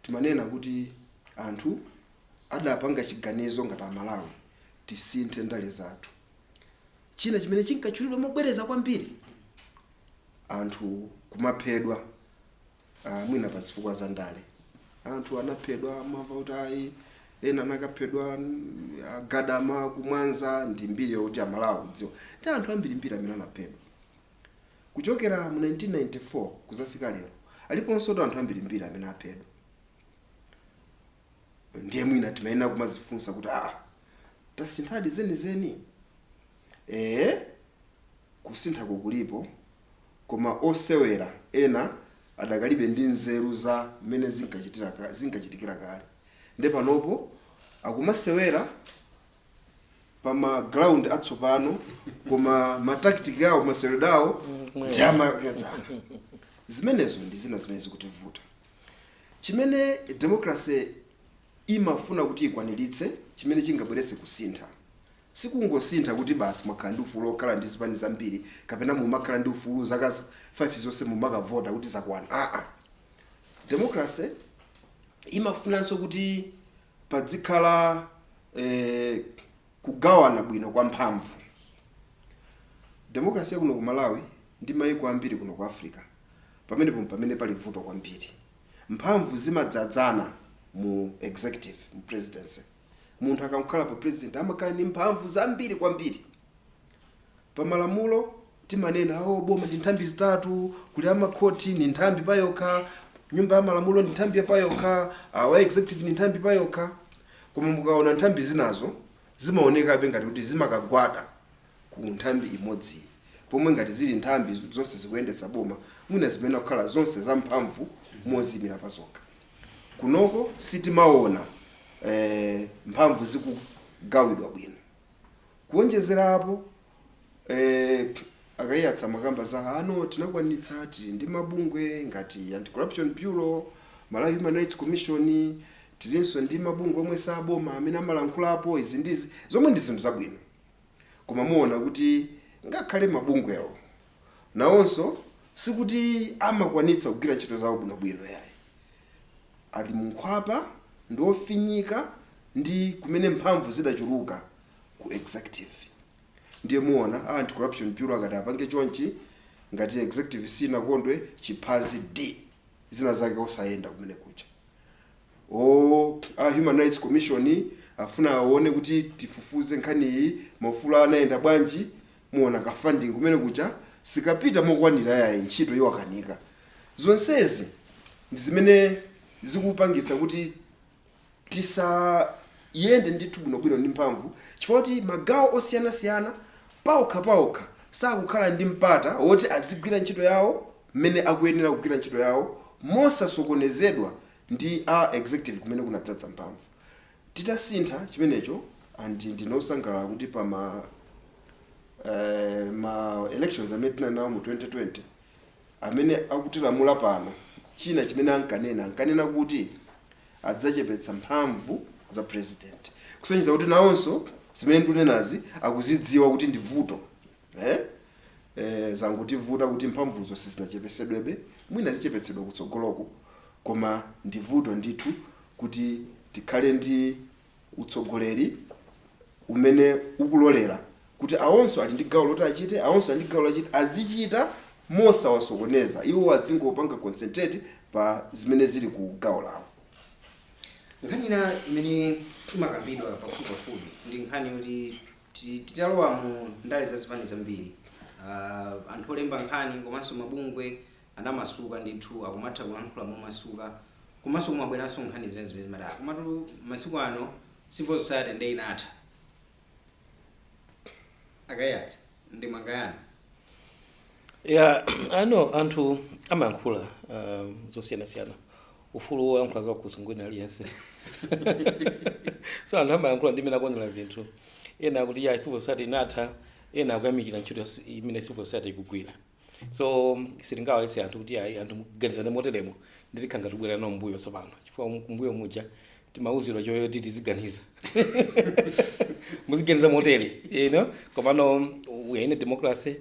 Timanena kuti anthu adapanga chiganizo ngati Amalawi tisinthe ndale zathu. China chimene chinkatchulidwa mobwereza kwambiri, anthu kumaphedwa ah, mwina pa zifukwa za ndale. Anthu anaphedwa mmamva kuti ayi ena anakaphedwa mm, a Gadama ku Mwanza ndi mbiri yoti Amalawi akudziwa. Ndi anthu ambirimbiri amene anaphedwa kuchokera mu 1994 kuzafika lero aliponso anthu ambirimbiri amene aphedwa ndiye mwina timayenera kumazifunsa kuti aa tasinthadi zenizeni ee kusintha kulipo koma osewera ena adakalibe ndi nzeru za mmene zinkachitira ka- zinkachitikira kale nde panopo akumasewera pa ma ground atsopano koma ma tactic awo maseweredwe awo ndi amakedzana zimenezo ndi zina zimene zikutivuta Chimene democracy imafuna kuti ikwaniritse, chimene chingabweretse kusintha, sikungosintha kuti basi mwakhala ndi ufulu okhala ndi zipani zambiri kapena mumakhala ndi ufulu zaka 5 zonse mumakavota kuti zakwana aa. Democracy imafunanso kuti padzikhala eh, kugawana bwino kwa mphamvu. Democracy ya kuno ku Malawi ndi maiko ambiri kuno ku Africa pamenepo m'pamene pali vuto kwambiri. Mphamvu zimadzadzana mu executive, mu presidency. Munthu akangokhalapo president amakhala ndi mphamvu zambiri kwambiri. Pa malamulo timanena oh, boma ndi nthambi zitatu, kuli amakhoti ni nthambi payokha, nyumba ya malamulo ndi nthambi payokha, awa executive ni nthambi payokha. Koma mukaona nthambi zinazo zimaonekabe ngati kuti zimakagwada ku nthambi imodzi, pomwe ngati zili nthambi zonse zikuyendetsa boma mwina zimayenera kukhala zonse zamphamvu moziyimira pazokha. Kunoko sitimaona eh, mphamvu zikugawidwa bwino. Kuonjezera apo, eh, a Kaiyatsa amakamba za ano tinakwanitsa, tili ndi mabungwe ngati Anti-Corruption Bureau, Malawi Human Rights Commission, tilinso ndi mabungwe omwe si a boma amene amalankhulapo izi ndi izi, zomwe ndi zinthu zabwino. Koma mumaona kuti ngakhale mabungwewo nawonso sikuti amakwanitsa kugwira ntchito zawo bwinobwino yayi. ali mu nkhwapa ndi ofinyika ndi kumene mphamvu zidachuluka ku executive ndiye muona a anti corruption bureau akati apange chonchi ngati executive sinakondwe chiphazi d zina zake osayenda kumene kucha o a human rights commission afuna aone kuti tifufuze nkhani iyi maufulu anayenda bwanji muona ka funding kumene kucha sikapita mokwanira yayi ntchito yiwakanika zonsezi ndi zimene zikupangitsa kuti tisayende ndithu bwinobwino ndi mphamvu chifukwa kuti magawo osiyanasiyana paokha paokha sakukhala ndi mpata woti adzigwira ntchito yawo mmene akuyenera kugwira ntchito yawo mosasokonezedwa ndi a executive kumene kunadzadzana mphamvu Titasintha chimenecho and ndine osangalala kuti pa ma eeh ma elections amene tinanawo mu 2020 amene akutilamula pano china chimene ankanena ankanena kuti adzachepetsa mphamvu za president kusonyeza kuti nawonso zimene ndikunenazi akuzidziwa kuti ndi vuto. Eh? Eh, zangotivuta kuti mphamvuzo sizinachepetsedwebe mwina zichepetsedwa kutsogoloko koma ndi vuto ndithu kuti tikhale ndi utsogoleri umene ukulolera kuti awonso ali ndi gawo loti achite awonso ali ndi gawo loti achite adzichita mosawasokoneza iwo adzingopanga concentrate pa zimene zili ku gawo lawo nkhani ina imene imakambidwa pafupipafupi ndi nkhani yoti Titalowa mu ndale za zipani zambiri, anthu olemba nkhani komanso mabungwe anamasuka ndithu, akumatha kulankhula momasuka komanso kumabweranso nkhani zina zimene zimati ah, komatu masiku ano civil society nde inatha. A Kaiyatsa, ndemanga yanu? Yeah, I know anthu amayankhula uh, zosiyanasiyana ufulu woyankhula zakukhosi ngwa wina aliyense so anthu amayankhula ndi mmene akuonera zinthu ena akuti ya civil society inatha ena akuyamikira ntchito yas- imene civil society ikugwira so sitingawaletse anthu kuti ayi anthu muganizane moteremo nde tikhala ngati tikubwereranso mbuyo tsopano chifukwa mu- kumbuyo muja timauzidwa zoti tiziganiza muziganiza motere you know komano we are in a democracy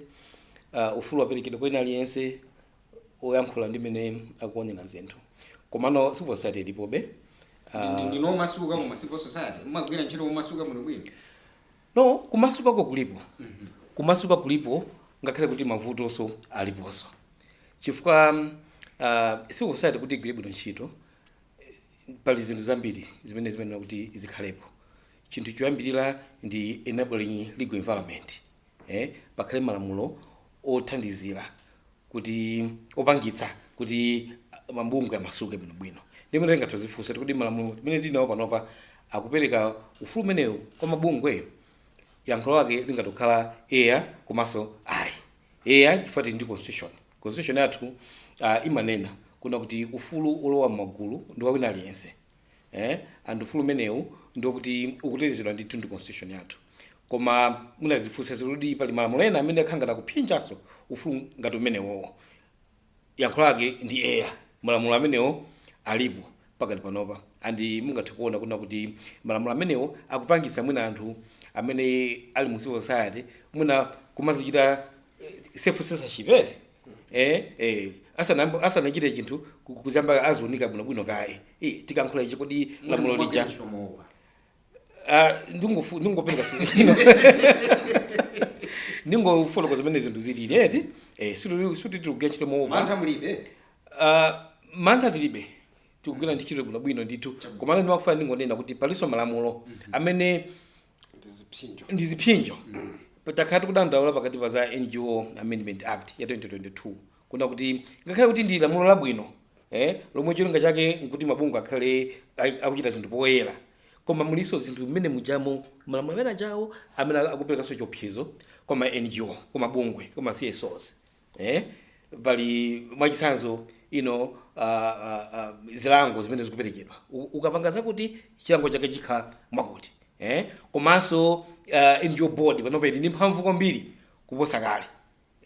uh, ufulu waperekedwa kwa wina aliyense oyankhula ndi mmene akuonera zinthu komano civil society ilipobe Ndi- ndinu omasuka koma civil society mumagwira ntchito momasuka muno bwino no kumasukako kulipo kumasuka kulipo ngakhale kuti mavutonso aliponso chifukwa um, uh, civil society kuti igwire bwino ntchito eh, pali zinthu zambiri zimene zimayenera kuti zikhalepo chinthu choyambirira ndi enabling legal environment e Pakhale malamulo othandizira kuti, opangitsa kuti mabungwe amasuke bwinobwino. Ndiye mwina tingathe kudzifunsa kuti kodi malamulo amene tili nawo panopa akupereka ufulu umenewu kwa mabungwe? Yankho lake lingathe kukhala eya komanso ayi. Eya, chifukwa tili ndi constitution. Constitution yathu imanena kunena kuti ufulu wolowa m'magulu ndi wa wina aliyense. eh? and ufulu umenewu ndiwokuti ukutetezedwa ndithu ndi constitution yathu koma mwina kudzifunsanso kuti pali malamulo ena amene akukhala ngati akuphinjanso ufulu ngati umenewowo yankho lake ndi eya malamulo amenewo alipo pakati panopa and mungathe kuona kunena kuti malamulo amenewo akupangitsa mwina anthu amene ali mu civil society mwina kumadzichita eh, self censorship eti eh eh asanayambe asanachite chinthu ku- kuyamba adziunika bwino bwino kaye eh tikayankhula ichi kodi lamulo lija ah ndingofu ndingopereka sino ndingofotokoza zimene zinthu zilili eti eh sikuti sikuti tikugwira ntchito moopa mantha mulibe ah mantha tilibe tikugwira ntchito bwino bwino ndithu komano ndimafuna ndingonena kuti palinso malamulo amene ndi zipsinjo takhala tikudandaula pakatipa za ngo amendment act ya 2022 kunena kuti ngakhale kuti ndi lamulo labwino eh, lomwe cholinga chake nkuti mabungwe akhale ai- akuchita zinthu poyera koma mulinso zinthu mmenemujamo malamulo ameneajawo amene akuperekanso chiopsezo kwa ma ngo kwa mabungwe kwa ma csos Eh, pali mwachitsanzo ino uh, uh, uh, zilango zimene zikuperekedwa U- ukapanga zakuti chilango chake chikhala mwakuti eh? komanso uh, NGO board panopa ili ndi mphamvu kwambiri kuposa kale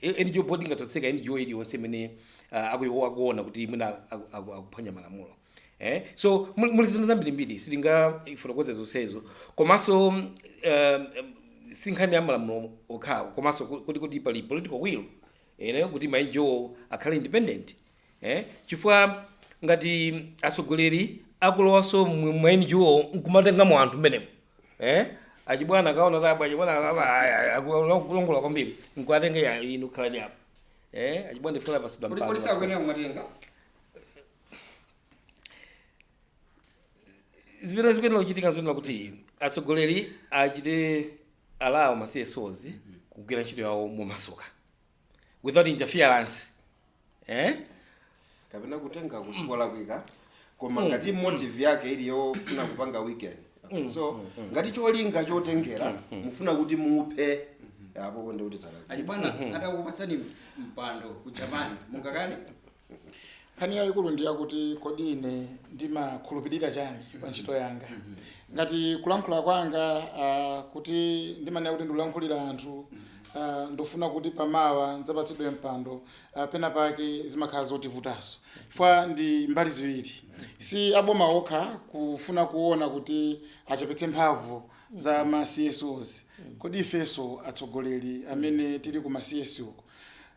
I- NGO board ingathe kutseka NGO iliyonse imene uh, akuyi- akuona kuti mwina akuphwanya malamulo eh? so mul- muli zinthu zambirimbiri sitingafotokoze zonsezo komanso um, si nkhani ya malamulo okhawo komanso ku- kuti kuti pali political will ene kuti ma NGO wo akhale independent eh? chifukwa ngati atsogoleri akulowanso mu ma NGO wo nkumatengamo anthu mmenemo eh? achibwana akaona Trapence achibwana akulongolola kwambiri nkuwatenga eya inu khalani apo eh? achibwana ndifuna pasidwa Kodi- kodi sakuyenera kumatenga zimene zikuyenera kuchitika zoyenera kuti atsogoleri achite allow ma CSOs kugwira ntchito yawo momasuka without interference eh? kapena kutenga sikolakwika koma ngati motive yake ili yofuna kupanga weaken Okay, so ngati cholinga chotengera mufuna kuti muphe apo po nde kuti zalakwika achibwana atakupatsani mpando ku japan mungakane nkhani yayikulu ndi yakuti kodi ine ndimakhulupirira chani pa ntchito yanga ngati kulankhula kwanga ah, kuti ndimanena kuti ndikulankhulira anthu ah, ndi kofuna kuti pamawa ndidzapatsidwe mpando ah, pena pake zimakhala zotivutanso chifukwa ndi mbali ziwiri si aboma okha kufuna kuona kuti achepetse mphamvu za ma CSOs kodi ifenso atsogoleri amene tili ku ma CSOs uko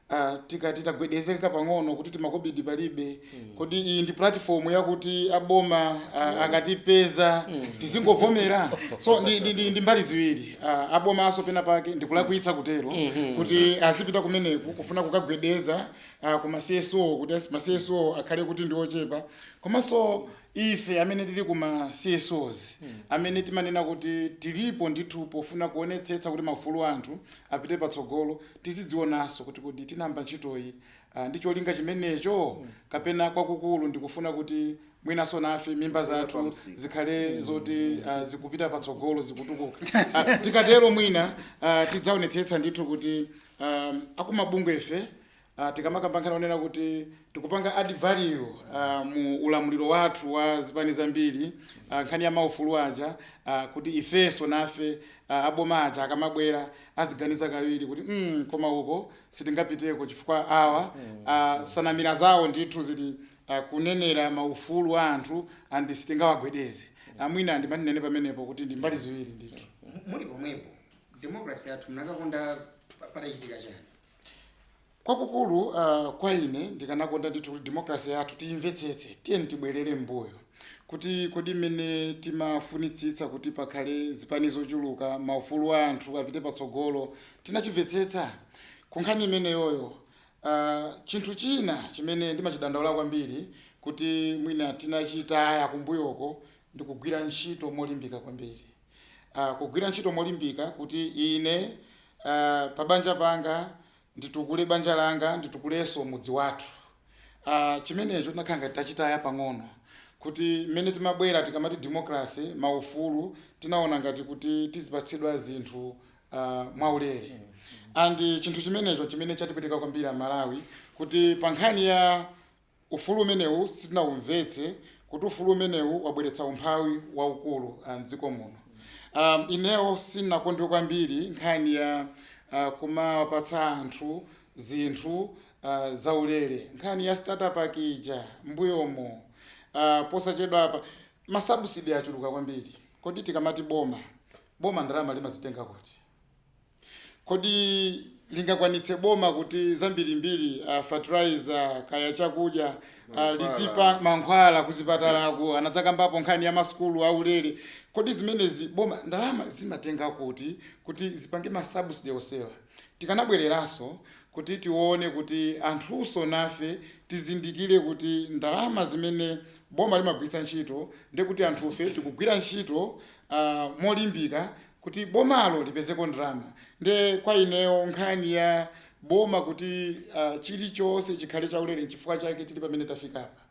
a tikati tagwedezeka pang'ono kuti timakobidi palibe kodi iyi ndi platform yakuti aboma a- akatipeza tizingovomera so ndi, ndi, ndi, ndi mbali ziwiri a, abomanso pena pake ndikulakwitsa kutero kuti azipita kumeneko kufuna kukagwedeza a, ku ma CSO kuti as- ma CSO akhale kuti ndi ochepa komanso ife amene tili ku ma CSOs amene timanena kuti tilipo ndithu pofuna kuonetsetsa kuti maufulu a anthu apite patsogolo Tizidzionanso kuti kodi tinayamba ntchitoyi ndi cholinga chimenecho kapena kwakukulu ndi kufuna kuti mwinanso nafe mimba zathu zikhale zoti zikupita patsogolo, zikutukuka. Tikatero mwina tidzaonetsetsa ndithu kuti akumabungwefe tikamakamba nkhani yonena kuti tikupanga add value mu ulamuliro wathu wa zipani zambiri, nkhani ya maufulu aja, kuti ifenso nafe aboma aja akamabwera aziganiza kawiri kuti mm, koma uko sitingapiteko chifukwa awa uh, nsanamira zawo ndithu zili uh, kunenera maufulu a anthu and sitingawagwedeze a mwina ndimati ndinene pamenepo kuti ndi mbali ziwiri ndithu muli pomwepo democracy yathu mukanakonda patachitika chani Kwakukulu, uh, kwa ine, ndikanakonda ndithu kuti democracy yathu tiyimvetsetse. Tiyeni tibwerere m'mbuyo kuti kodi mmene timafunitsitsa kuti pakhale zipani zochuluka, maufulu a anthu apite patsogolo, tinachimvetsetsa? Ku nkhani imeneyoyo, uh, chinthu china chimene ndimachidandaula kwambiri kuti mwina tinachitaya kumbuyoko ndi kugwira ntchito molimbika kwambiri. Uh, kugwira ntchito molimbika kuti ine, uh, pabanja panga, nditukule banja langa, nditukulenso mudzi wathu. Uh, chimenecho tinakhala ngati tachitaya pang'ono kuti mmene timabwera tikamati democracy maufulu tinaona ngati kuti tizipatsidwa zinthu uh, mwaulere and chinthu chimenecho chimene chatipweteka kwambiri Amalawi kuti pa nkhani ya Ufulu umenewu sitinaumvetse kuti ufulu umenewu wabweretsa umphawi waukulu m'dziko muno. Ineo sindinakondwe kwambiri nkhani ya kumawapatsa anthu zinthu zaulere. Nkhani ya starter pack ija m'mbuyomo, posachedwapa, ma subsidy achuluka kwambiri. Kodi tikamati boma, boma ndalama limazitenga kuti? Kodi lingakwanitse boma kuti zambirimbiri uh, fertilizer kaya chakudya uh, lizipa mankhwala kuzipatalako anadzakambapo nkhani ya masukulu aulere kodi zimenezi boma ndalama limatenga kuti kuti zipange masubsidy onsewa tikanabwereranso kuti tione kuti anthunso nafe tizindikire kuti ndalama zimene boma limagwiritsa ntchito ndekuti anthufe tikugwira ntchito uh, molimbika kuti bomalo lipezeko ndalama nde kwa ineyo nkhani ya boma kuti uh, chilichonse chikhale chaulere nchifukwa chake tili pamene tafikapa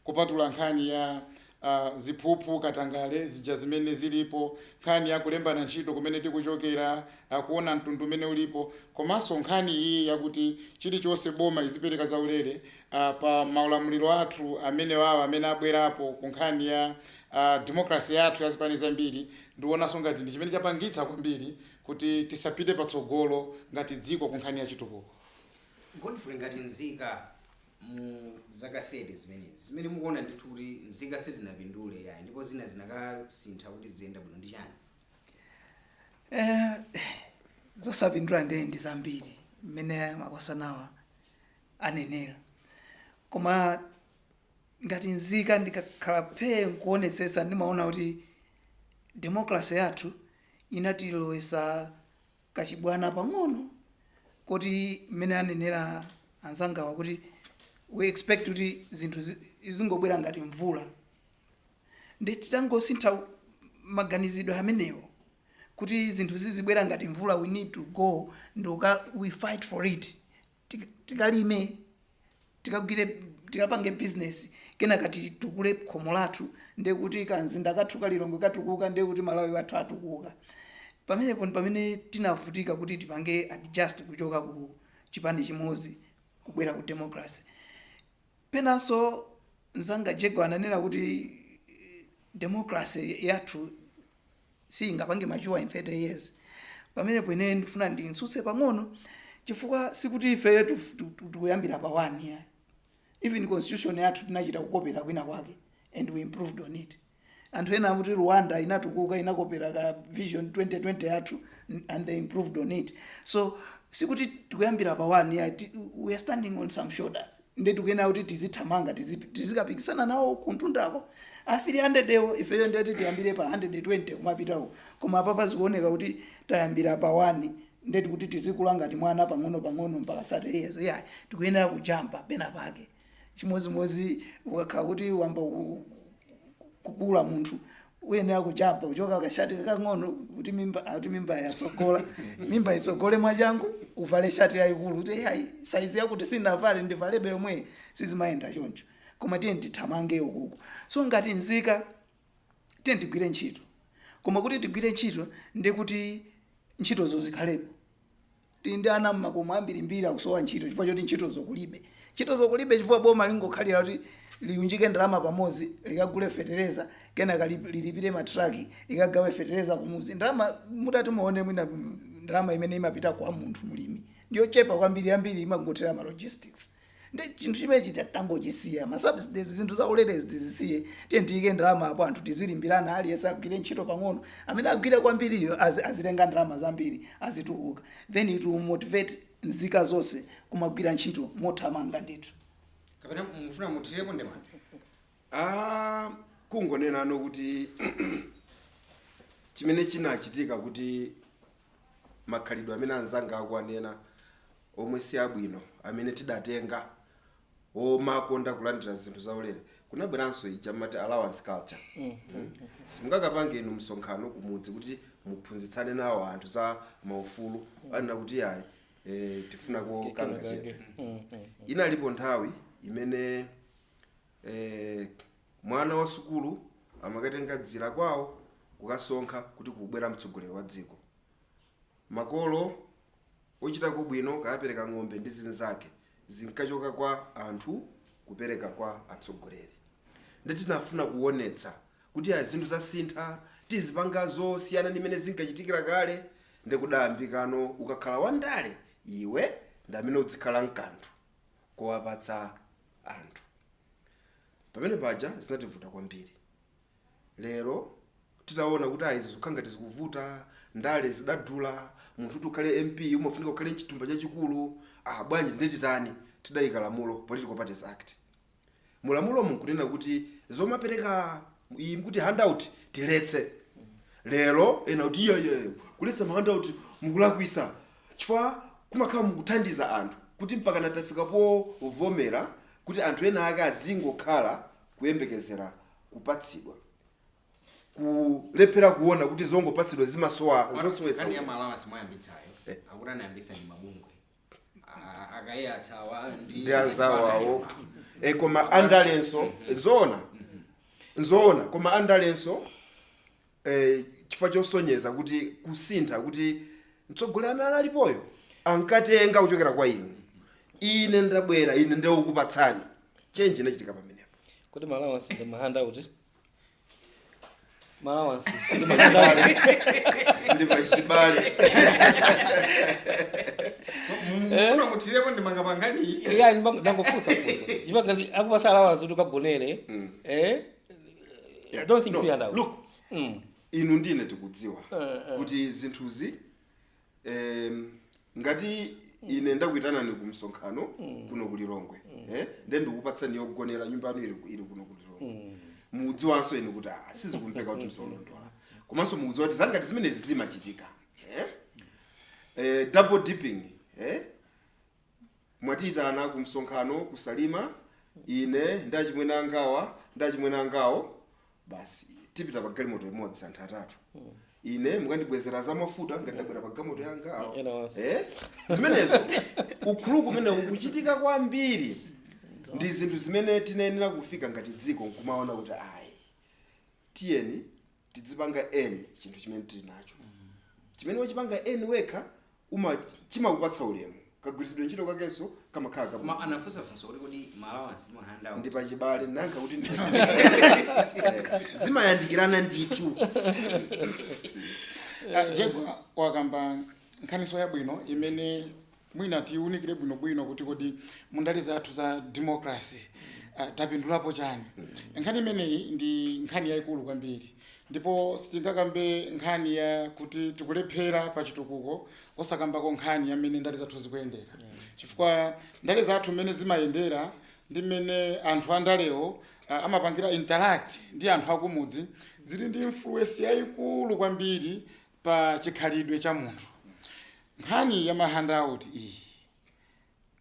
kupatula nkhani ya uh, ziphuphu katangale zija zimene zilipo nkhani ya kulembana ntchito kumene tikuchokera uh, kuona mtundu umene ulipo komanso nkhani iyi yakuti chilichonse boma izipereka zaulere uh, pa maulamuliro athu amenewa amene abwerapo ku nkhani ya uh, demokrasi yathu ya zipani zambiri Ndionanso ngati ndi chimene chapangitsa kwambiri kuti tisapite patsogolo ngati dziko kunkhani ya chitukuko. Godfrey, ngati nzika mu zaka 30 zimenezi, zimene mukuona ndithu kuti nzika sizinapindule yayi ndipo zina zikanasintha kuti ziziyenda bwino ndi chani? Zosapindula ndiye ndi zambiri mmene makosanawa anenera koma. ngati nzika ndikakhala phee nkuonetsetsa ndimaona kuti democracy yathu inatilowetsa kachibwana pang'ono koti mmene anenera anzangawa kuti we expect kuti zinthu zi- zingobwera ngati mvula ndi titangosintha maganizidwe amenewo kuti zinthu zizibwera ngati mvula we need to go and we fight for it tik- tikalime tikagwire tikapange bizinesi kenaka titukule khomo lathu ndiye kuti kamzinda kathu kalilongwe katukuka ndiye kuti malawi wathu atukuka pamenepo ndi pamene tinavutika kuti tipange adjust kuchoka ku chipani chimodzi kubwera ku democracy Penanso mzanga Jaguar ananena kuti democracy yathu siyingapange mature in 30 years. Pamenepo ine ndifuna ndimtsutse pang'ono chifukwa sikuti ifeyo tikuyambira pa 1 ayi. Even constitution yathu tinachita kukopera kwina kwake and we improved on it. Anthu ena akuti Rwanda inatukuka inakopera ka vision 2020 yathu n- and they improved on it. So sikuti tikuyambira pa one ayi ti- we are standing on some shoulders. Nde tikuyenera kuti tizithamanga tizi- tizikapikisana nawo kuntundako. Afiri 100 iwo ifeyo ndeti tiyambire pa 120 kumapitawo. Koma apapa zikuoneka kuti tayambira pa one nde kuti tizikula ngati mwana pang'ono pang'ono mpaka 30 years ayi, tikuyenera kujampa pena pake. chimodzimodzi ukakhala kuti wayamba ku- kukula munthu uyenera kujampa kuchoka kashati kakang'ono kuti mimba kuti mimba yatsogola mimba itsogole mwachangu uvale shati yayikulu kuti ayi saizi yakuti sinavale ndivalebe yomwe sizimayenda choncho koma tiyeni tithamange ukuku so ngati nzika tiyeni tigwire ntchito koma kuti tigwire ntchito ndiye kuti ntchitozo zikhalepo Tili ndi ana mmakomo ambirimbiri akusowa ntchito chifukwa choti ntchitozo kulibe. Ntchitozo kulibe chifukwa boma lingokhalira kuti liunjike ndalama pamodzi likagule fetereza kenaka lilipire ma truck likagawe fetereza kumudzi. Ndalama mutati muone mwina ndalama imene imapita kwa munthu mlimi ndiyochepa kwambiri, yambiri imangothera ma logistics. nde chinthu chimenechi titangochisiya ma subsidies zinthu za ulerezi tizisiye tiyeni tiyike ndalama apo anthu tizilimbirana aliyense agwire ntchito pang'ono amene agwire kwambiriyo azi- azitenga ndalama zambiri azitukuka then it will motivate nzika zonse kumagwira ntchito mothamanga ndithu kapena mufuna muthirepo ndemanga Ah, kungonenano kuti chimene chinachitika kuti makhalidwe amene anzanga akuwanena omwe si abwino amene tidatenga omakonda kulandira zinthu zaulere kunabweranso ija mati allowance culture mm. simungakapange inu msonkhano kumudzi kuti muphunzitsane nawo anthu za maufulu anena kuti ayi e, tifunako kangachepe inalipo nthawi imene e, Mwana wa sukulu amakatenga dzira kwawo kukasonkha kuti kukubwera mtsogoleri wa dziko. Makolo ochitako bwino ankapereka ng'ombe ndi zinzake zinkachoka kwa anthu kupereka kwa atsogoleri. Nde tinafuna kuwonetsa kuti ayi zinthu zasintha tizipanga zosiyana ndi mmene zinkachitikira kale nde kudayambikano ukakhala wa ndale iwe ndi amene udzikhala nkanthu kowapatsa anthu. Pamene paja zinativuta kwambiri. Lero titaona kuti ayi zikukhala ngati zikuvuta, ndale zidadula, munthu kuti ukhale MP umafunika ukhale n'chithumba chachikulu, ah bwanji ndiye titani? Tidaika lamulo, Political Parties Act. Mu lamulomu n'kunena kuti zomapereka izi mukuti handout tiletse. Lero ena akuti iyayi, kuletsa ma handout mukulakwitsa. chifukwa kumakhala mukuthandiza anthu kuti mpakana tafika povomera kuti anthu ena ake adzingokhala kuyembekezera kupatsidwa kulephera kuona kuti zongopatsidwa zimasowa zosowesa Nkhani ya ma allowance mwayambitsayo. Eh. Akuti anayambitsa ndi mabungwe. A- Akuyathawa ndi ndi anzawo awo e, koma andalenso zoona zoona koma andalenso e, chifukwa chosonyeza kuti kusintha kuti mtsogoleri amene alipoyo ankatenga kuchokera kwa inu ine ndabwera ine ndikukupatsani change inachitika pamenepo kodi ma allowance ndi ma handout kodi ma allowance ndi ma handout ndi pachibale mukufuna muthirepo ndemanga pa nkhani iya ndangofutsa funsa if ngati akupatsa allowance kuti ukagonere eh I don't think No, si handout. look Mm. inu ndi ine tikudziwa Eh, eh. kuti zinthuzi em, ngati ine ndakuitanani ku msonkhano kuno ku lilongwe eh, nde ndikupatsani yogonera nyumba yanu ili ili kuno ku lilongwe mudziwanso inu kuti ah, sizikumveka kuti n'zolondola komanso mukudziwa kuti zangati zimenezi zimachitika eh? eh, double dipping eh? mwatiitana ku msonkhano ku salima ine ndi achimwene angawa ndi achemwali angawo basi tipita pa galimoto imodzi anthu atatu ine mukandibwezera za mafuta ngati ndabwera pa galimoto yanga awo. Ena onse. Eh? zimenezo ukuluku umene ukuchitika kwambiri ndi zinthu zimene tinayenera kufika ngati dziko nkumaona kuti ayi tiyeni tidzipanga eni chinthu chimene tili nacho chimene wachipanga eni wekha uma chimakupatsa ulemu kagwiritsidwe ntchito kakenso kamakhala careful koma anafunsa funso kuti kodi ma allowance ndi ma handout ndi pachibale nanga kuti ndi- Eh, zimayandikirana ndithu Ah, jegwa wakamba nkhaninso yabwino imene Mwina tiunikire bwinobwino kuti kodi mundale zathu za democracy uh, tapindulapo chani? Nkhani imeneyi ndi nkhani yayikulu kwambiri ndipo sitingakambe nkhani ya kuti tikulephera pa chitukuko osakambako nkhani ya mmene ndale zathu zikuyendera, chifukwa ndale zathu mmene zimayendera ndi mmene anthu andalewo uh, amapangira interact ndi anthu akumudzi zili ndi influence yayikulu kwambiri pa chikhalidwe cha munthu. Nkhani ya ma handout iyi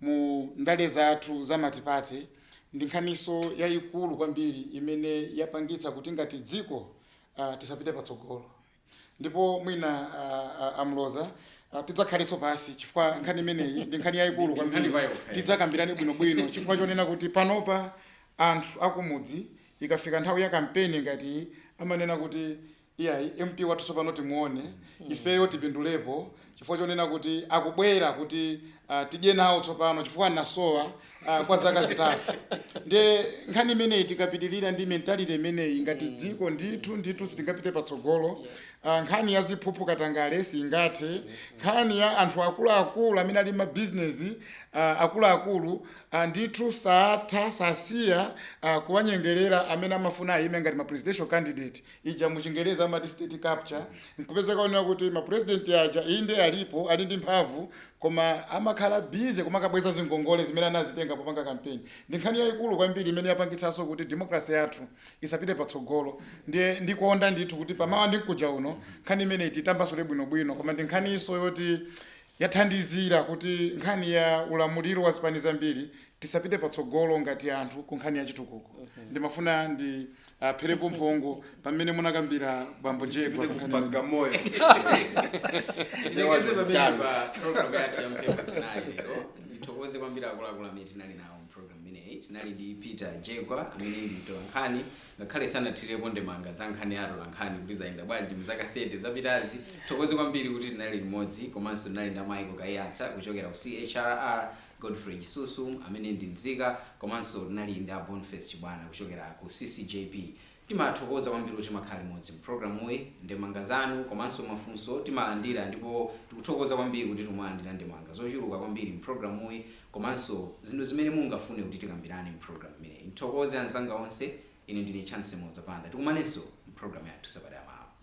mu ndale zathu za matipate ndi nkhaniso yayikulu kwambiri imene yapangitsa kuti ngati dziko ah, tisapite patsogolo ndipo mwina ah, ah, a Mloza ah, tidzakhaleso pansi chifukwa nkhani imeneyi ndi nkhani yayikulu Ndi nkhani kwambiri pa yokha, eh. tidzakambirane bwinobwino chifukwa chonena kuti panopa anthu akumudzi ikafika nthawi ya kampeni ngati amanena kuti iyayi MP wathu tsopano timuone ifeyo tipindulepo chifukwa chonena kuti akubwera kuti ah, tidye nawo tsopano chifukwa anasowa ah, kwa zaka zitatu nde nkhani imeneyi tikapitirira ndi mentality imeneyi ngati dziko ndithu ndithu sitingapite patsogolo Ah, nkhani ya ziphuphu katangale singathe nkhani ya anthu akuluakulu amene ali ndi mabizinesi akuluakulu ah, ndithu satha sasiya ah, kuwanyengerera amene amafuna ayime ngati ma presidential candidate ija mu chingerezi amati state capture nkupezeka zonena kuti mapurezidenti aja inde alipo ali ndi mphamvu koma amakhala bize kumakabweza zingongole zimene anazitenga popanga kampeni ndi nkhani yayikulu kwambiri imene yapangitsanso kuti demokrasi yathu isapite patsogolo ndiye ndikonda ndithu kuti pamawa ndi mkuja uno nkhani imeneyi titambasule bwinobwino koma ndi nkhaninso yoti yathandizira kuti nkhani ya ulamuliro wa zipani zambiri tisapite patsogolo ngati anthu ku nkhani ya chitukuko ndimafuna ndi pherepo mphongo pamene munakambira bambo Jegwa Kupite ku pankhani imene. Bagamoyo. tilekeze pamene Chalo. pa program yathu ya Mphepo Zinayi lero ndithokoze kwambiri akuluakulu amene tinali nawo mu program imeneyi tinali ndi Peter Jegwa amene ndi mtolankhani ngakhale sanathirepo ndemanga za nkhani ya atolankhani kuti zayenda bwanji mu zaka 30 zapitazi thokoze kwambiri kuti tinali limodzi komanso tinali ndi Michael Kaiyatsa kuchokera ku CHRR Godfrey Chisusu amene ndi nzika komanso tinali ndi a Boniface Chibwana kuchokera ku CCJP. Timathokoza kwambiri kuti timakhala limodzi mu programuyi. Ndemanga zanu komanso mafunso timalandira ndipo tikuthokoza kwambiri kuti tikumalandira ndemanga zochuluka kwambiri mu programuyi komanso zinthu zimene mungafune kuti tikambirane mu programu imeneyi. Ndithokoze anzanga onse. Ine ndine Chancy Mloza Banda. Tikumanenso mu programu yathu sabata yamawa.